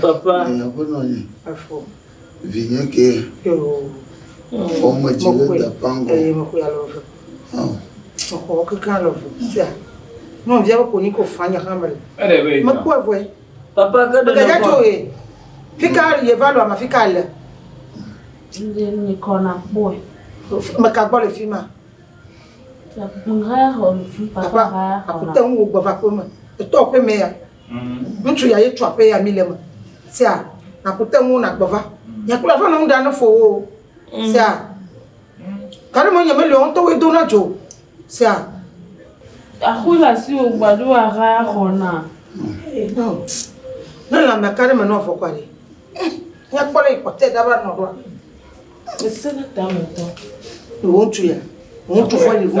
Papa. Vinye ke. Fɔme dzi le dapangɔ. Mexɔ kaka le vo. Tia. Mɔ via ko ni ko fanya hamel. Ele be. Mekɔ evoe. Papa ke de. Ke jato e. Fika ye va lo ama fika le. Ndi ni kona boy. Meka gbɔ le fi ma. Papa, akute ŋu gbɔ va ko me. Eto ko me ya. Ŋutsu ya ye tsɔ aƒe ya mi le me. Sea, na ku te ŋu na gbe va. Nye kple aƒe nɔ ŋu ɖa ne fo wo. Sea, ka ɖe me nye me le ŋutɔ wo do na dzo. Sea. Axu la si wo gba ɖo a ha ya xɔ na. Ne la me ka ɖe me nɔ fo kwa ɖe. Nye kpɔ le ikɔ te da ba nɔ ɖoa. Ese ne ta me tɔ. Ŋutsu ya. Ŋutsu fɔ yi vo.